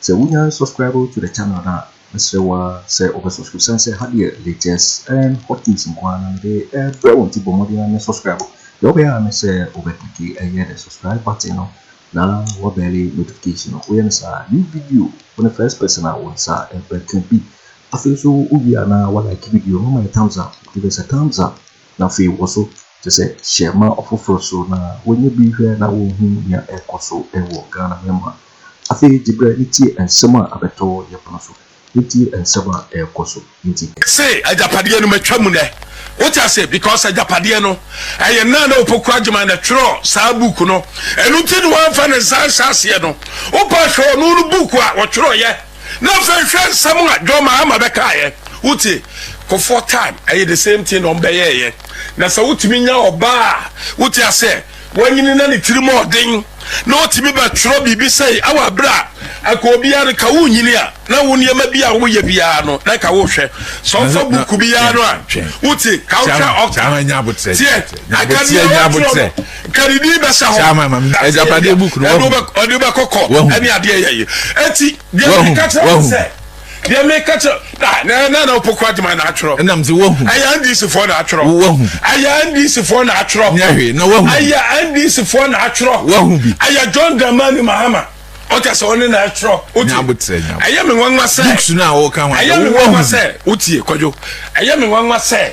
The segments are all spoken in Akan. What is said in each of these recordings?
Sɛ wo nya subscribe to the channel no a mɛsrɛ wo ara sɛ wobɛ subscribe sane sɛ ha deɛ latest and hot news nko ara na mede ɛbrɛ wo nti bɔ mmɔden ara ne subscribe deɛ wobɛyɛ ara ne sɛ wobɛ click ɛyɛ the subscribe button no na wabɛle notification no woyɛ no saa new video wo ne first person a wo nsa ɛbɛka bi afei nso wowie a na wa like video no ma yɛ thumbs up give us a thumbs up na afei wɔ so kyɛ sɛ hyɛ ma ɔfoforɔ so na wɔnyɛ bi hwɛ na wɔhu nea ɛkɔ so ɛwɔ Ghana mɛma Afei gye berɛ na tie nsɛm a abɛtɔ wɔ yɛn pono so, na tie nsɛm a ɛrekɔ so nti. Se agyapadeɛ no matwa mu nɛ wote aseɛ because agyapadeɛ no ɛyɛ Nana ne Opoku Agyemang na twerɛ saa book no ɛno nti ne wamfa ne nsa anhyɛ aseɛ no wopa hwɛ ɔno no book a ɔtwerɛeɛ na afei hwɛ nsɛm a John Mahama bɛkaeɛ wote Kofoɔ time ɛyɛ the same thing na wɔbɛyɛeɛ na sɛ wotumi nya ɔbaa a wote aseɛ Wanyini na ne tiri mu ɔden na otumi bɛ twerɛ biribi sɛi awɔ aberɛ a anka obiara no ka wo nyini a na wo nneɛma bi a wo yɛ biara no na anka wo hwɛ sɛ ɔfa buku bi ya no a wo te ka wo hwɛ ɔka teɛ anka deɛ ɔwɔ twerɛ no nka ne din bɛ sa hɔ ɛne ɔde bɛ kɔkɔ ɛne adeɛ yɛ yi ɛti deɛ ne ka kyerɛ sɛ Deɛ meka kyerɛ na na na opoku adwuma na atwerɛ. Ɛnam sɛ wahu. Ɛyɛ NDC foɔ na atwerɛ. Wahu. Ɛyɛ NDC foɔ na atwerɛ. Nyɛ hwee na wahu. Ɛyɛ NDC foɔ na atwerɛ. Wahu bi. Ɛyɛ John Dramani Mahama. Ɔka sɛ ɔne na atwerɛ. Wotie. Nyabotrɛ nyabotrɛ. Ɛyɛ me nwanwa sɛ. Books no a wɔka ho asɛ. Ɛyɛ me nwanwa sɛ. Wotie kwadwo. Ɛyɛ me nwanwa sɛ.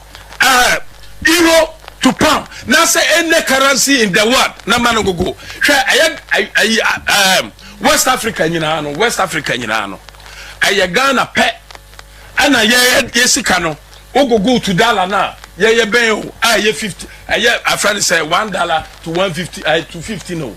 Ah Euro to pound na sɛ any currency in the world na ma no gogo hwɛ ɛyɛ ayi um, West Africa nyinaa no West Africa nyinaa no ɛyɛ Ghana pɛ ɛna yɛ yɛ sika no ogogo to dollar na yɛ yɛ bɛn o a ɛyɛ fifty ɛyɛ afɛn sɛ one dollar to one fifty to fifty no.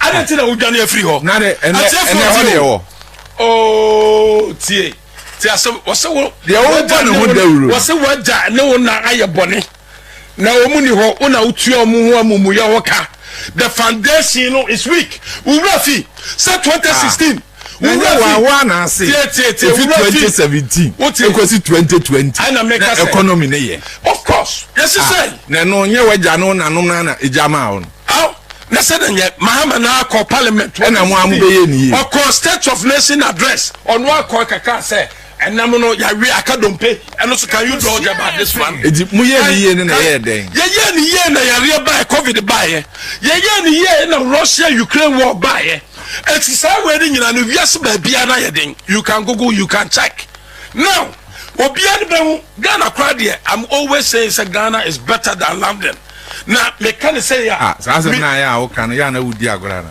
Adɛn nti na wodwane afiri hɔ? Na ne ɛnɛ ɛnɛ hɔ deɛ wɔ. Oo tie tie asɛm wɔsɛ wo. Deɛ wobɔ ne ho dawuro. Wɔsɛ wagya ne wo na ayɛ bɔne na wɔn ni hɔ wo na wotua wɔn ho amumuyɛ ho ka. The foundation no is weak. Wura fi sɛ 2016. Wo werɛ hoahoa no ase efi twenty seventeen ekosi twenty twenty na economy no yɛ of course yɛsi sɛ na ɛno nyɛ wagya no nanom na na egya maa wo no aw na sɛ na nyɛ mahama na akɔ parliament ɛna mo a mo bɛyɛ ni yie ɔkɔ state of nation address ɔno akɔ kaka sɛ Ɛnam no yɛawe aka dompe ɛno so can you draw them at this one. Eti mo yɛ ne yie ne na ɛyɛ dɛn. Yɛyɛ ne yie na yareɛ baeɛ covid baeɛ yɛyɛ ne yie na Russia Ukraine war baeɛ eti saa wei ne nyinaa no wiase baabiara na yɛ den you can google you can check now obiara ne bɛn ho Ghana koraa deɛ I'm always saying sɛ Ghana is better than London na meka ne sɛ yɛ a. Ah, saa asɛm na ayɛ a woka no yɛ a na wodi agorɔ ana.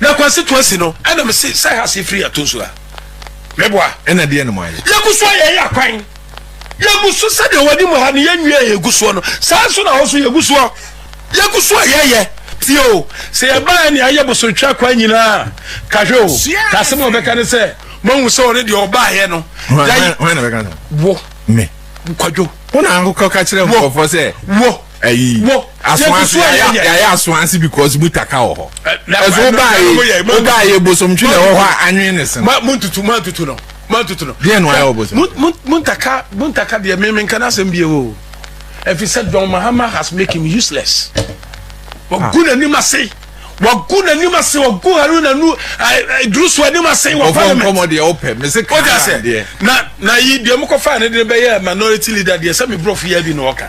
Na Kwasi to asi no, ɛna me se sɛ Hase firi ato nsu ha. Me boa. Ɛna deɛ na mo ayɛ? Yɛgu so a yɛyɛ akwan. Yɛgu so sɛdeɛ wɔde mu ha no yɛ nwie a yɛgu soɔ no, saa nso na hɔ so yɛgu soɔ. Yɛgu so a yɛyɛ. Tie o, sɛ yɛbaeɛ nea ayɛ bosonhwɛ akwan nyinaa a, ka hwɛ o, ka asɛm a wɔbɛka ne sɛ, moahu sɛ ɔne deɛ ɔbaeɛ no, yɛayi. Hwan na bɛka saa? Wo. Me. Kwadwo. Wo na ankɔka kyerɛ nkurɔfoɔ sɛ. Wo. ayi asoansi yɛayɛ asoansi because mu taka wɔ hɔ ɛso wobaayɛ wobaayɛ bosomtwi na ɛwɔ hɔ a anwene ne sen. mo ntutu mo ntutu no mo ntutu no. deɛ na wayɛ wɔ bosom. mo ntaka mo ntaka deɛ mímí nka n'asɛm bi o efi sɛ John Mahama has make him useless wagu n'anim ase wagu n'anim ase wagu Haruna nu Iddrisu anim ase wɔ parliament. ɔfɔ nkɔmɔ deɛ ɔpɛ mɛ se kan na deɛ. na na yi deɛ mo kɔ fa ne de bɛyɛ minority leader deɛ sɛ mi brɔfo yɛ bi na ɔka.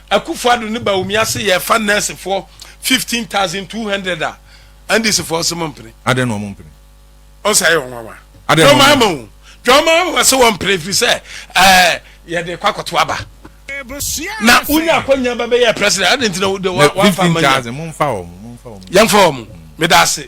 Akufo-Addo ne Bawumia se yɛrefa nɛɛsefoɔ fifteen thousand two hundred a, NDC foɔ se mompene. Adɛn na wɔmpene? Ɔn sɛ ɛyɛ ɔnwanwa. Adɛn na wɔmpene? Dwamama o, Dwamama se wɔmpene efiri sɛ ɛɛ yɛde rekɔ akɔto aba. Na wonya akwanya bɛbɛyɛɛ President, adɛn nti na wode wɔn afa Fifteen Amanyɛ? thousand, momfa wɔn, momfa wɔn. Yɛmfa wɔn. Meda ase.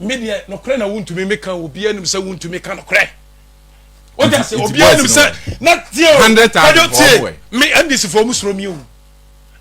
Me deɛ nokorɛ na wontumi meka obiara nim sɛ wontumi ka nokorɛ wode ase obiara nim sɛ na tie o radio tie me ndc foɔ mu soro mi o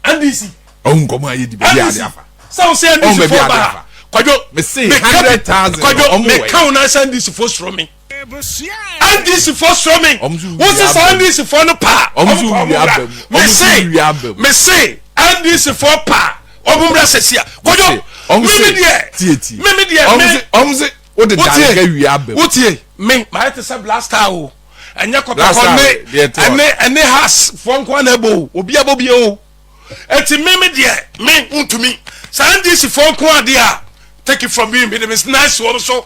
ndc ɔhu nkɔmɔ a yɛdi baabi ade afa sɛ wo sɛ ndc foɔ ba kwadwo meka kwadwo meka wo na sɛ ndc foɔ soro mi NDC foɔ suro me wo se saa NDC foɔ no paa ɔmo kɔ ɔmo wura me se me se NDC foɔ paa ɔmo wura sɛsi a kɔjɔ mímí deɛ mímí deɛ mi ɔmo se o de daare ka wia abɛm o tie mi maa yɛ te sɛ blaster o ɛnyɛ kɔtɔkɔ ne ɛne ɛne has foɔ nko ana ɛbɔ o obi abɔ bi o eti mímí deɛ mi ntumi saa NDC foɔ nko adeɛ a take it from me mi de mi nice wɔn so.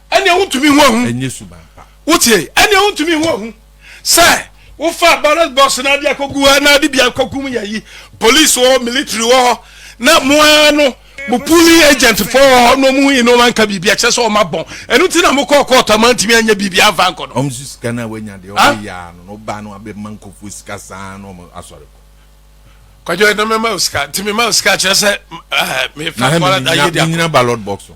ɛnneɛ wontumi hu ahu ɛnyɛ suban pa wotie ɛnneɛ wontumi hu ahu sɛ wofa barrel box na ade akɔgu hɔ na ade bi akɔkum yɛ yi police wɔ hɔ military wɔ hɔ na moa no mo pooling agent fɔ wɔ hɔ na ɔmo hu yi na ɔmo anka biribi akyɛ sɛ ɔmo abɔn ɛno ti na mo kɔɔ kɔɔtɔ ama ntumi anyɛ biribi anfa nkɔ no. ɔmo so sika no a wanya deɛ ah? ɔmo yɛ ano na ɔbaa no abɛma nkɔfoɔ sika saa na ɔmo asɔre kɔ. kwadwo ɛna mɛma o sika nti mɛma o sika kyerɛ sɛ eh, mefa fɔlɔ da yɛ di akɔ. na hɛn nyina ballot box ho.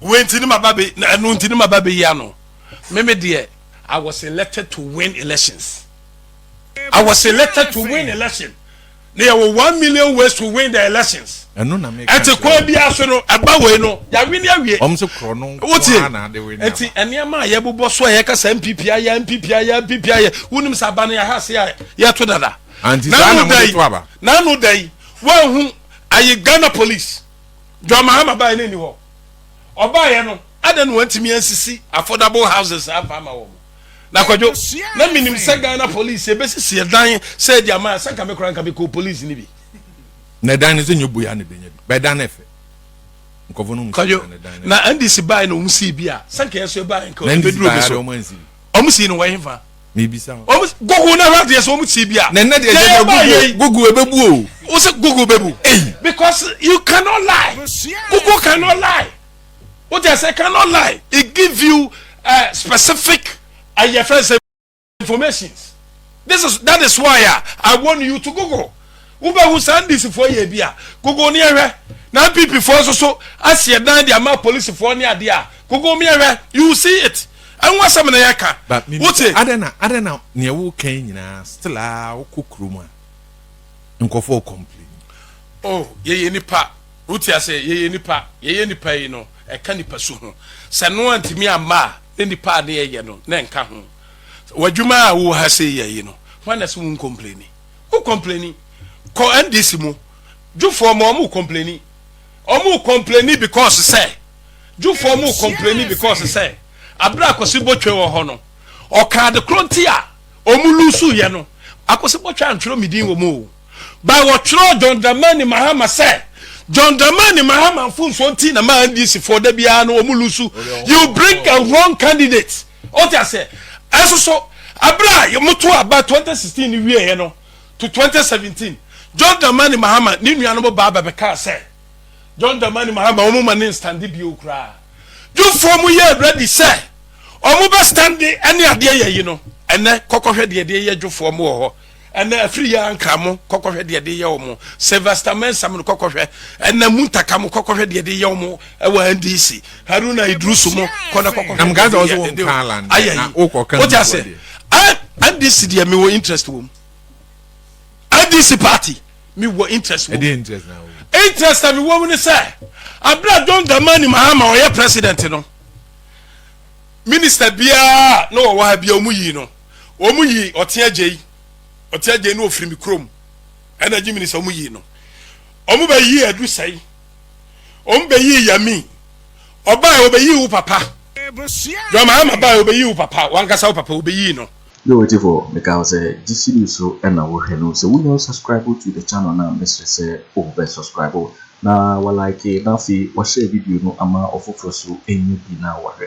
wei nti ne maba bɛ na ɛno nti ne maba bɛyi ano meme deɛ I was elected to win elections I was elected to win election na yɛwɔ one million ways to win the elections ɛno na meka ɛte kwan biara so no ɛba wei no yɛawe ne awie wɔn se korɔ no wotie ɛti nneɛma a yɛbobɔ so a yɛka sɛ npp ayɛ npp ayɛ npp ayɛ wonim sɛ aba no yɛha se a yɛto dada nanu da yi nanu da yi wɔahu ayɛ ghana police John Mahama baeɛ no nni hɔ. Ɔbaeɛ no, adɛn na wɔntumi ansisi affordable houses amfa ama wɔn? Na Kwadwo, na menim sɛ Ghana police ɛbɛsisi ɛdan sɛ de ama, sɛ nka me koraa nka mekɔɔ police no bi. Na ɛdan no sɛ nyɛ bui a na ɛbɛnya bi, bɛdan no ɛfɛ. Nkɔfo no mu sisi dan no dan no. Na NDC baeɛ na wɔn sii bi a, sɛ nka yɛ nso yɛbaeɛ nka ɛbɛduru obi so. Wɔn sii no wɔ hefa? mebisa hɔ. Wɔn Google na ɛwɔ adeɛ so wɔn tie bia. Nɛnɛ deɛ ɛyɛ dɛ Google Google ɛbɛbu o. Wo sɛ Google bɛbu. Ei. Because you cannot lie Google cannot lie wo deɛ sɛ cannot lie it give you uh, specific ɛyɛ fɛn sɛ informations this is that is why uh, I want you to Google. Wobɛhu saa NDC foɔ yɛ bi a, Google ne ɛhwɛ. Na NPP foɔ nso so asi ɛdan de ama polisi foɔ ne adeɛ a, Google me ɛhwɛ, you will see it. Ɛho asɛm na yɛka, wote. Adɛn na adɛn na neɛ woka yi nyinaa still a wokɔ kurom a, nkurɔfoɔ re complain. Oh, yɛyɛ nnipa, wote aseɛ, yɛyɛ nnipa, yɛyɛ nnipa yi no, ɛka nnipa su ho. Sɛ ɛno antumi amma a, ne nnipa a ne yɛyɛ no, na ɛnka ho. W'adwuma a wowɔ ha sei yɛ yi no, hwan na ɛse wo ncomplaini? Wo complaini. Kɔ NDC mu. Jufo mo ɔmo complaini. Ɔmo complaini because sɛ. Jufo ɔmo complaini because sɛ. Abere a Akwasi Botwe wɔ hɔ no. Ɔka ade koro nti a ɔmo lusu yɛ no. Akwasi Botwe antwerɛ me din wɔ mu o. But wɔtwerɛ John Dramani Mahama sɛ. John Dramani Mahama mfomsoɔ nti na ma NDC foɔ da biara no ɔmo lusu. You bring a wrong candidate. o te aseɛ ɛnso so abere a yɛmoto aba 2016 no wieɛ no to 2017 John Dramani Mahama ne nuanom baa bɛbɛkaa sɛ John Dramani Mahama wɔn ma ne nstande bio koraa dwufoɔ mu yɛ ready sɛ wɔn bɛ stande ɛne adeɛ yɛ yi no ɛnɛ kɔkɔhwɛ deɛ deɛ yɛ dwufoɔ mu wɔ hɔ Ɛna afiri yɛ ankra mo kɔkɔhwɛ deɛ de yɛ wɔn Sylvester Mensah mo kɔkɔhwɛ ɛna muntaka mo kɔkɔhwɛ deɛ de yɛ wɔn ɛwɔ NDC Haruna Idrusu mo kɔna kɔkɔhwɛ deɛ de yɛ wɔn de ayɛ yi o ti ase NDC deɛ mi wɔ interest wɔm NDC party mi wɔ interest wɔm interest a mi wɔ mu ni sɛ abira John Dramani Mahama ɔyɛ president no minister biara na ɔwɔ ha biara ɔmo yi no. wɔn yi ɔte agya yi ɔte agya yi na ofiri mi kurom ɛna gye mi ni sɛ wɔn yi no wɔn bɛ yi adu sɛyi wɔn bɛ yi yami ɔbaa yɛ ɔbɛ yi wo papa dwama ama baa yɛ ɔbɛ yi wo papa wankasa wo papa ɔbɛ yi no. Yo ɔtifo meka wo sɛ gye sidi so ɛna wo hwɛ no sɛ wo nya wo subscribe to the channel na mesrɛ sɛ wo bɛ subscribe na wa like na afei wa share video no ama ɔfoforo so ɛnya bi na wa hwɛ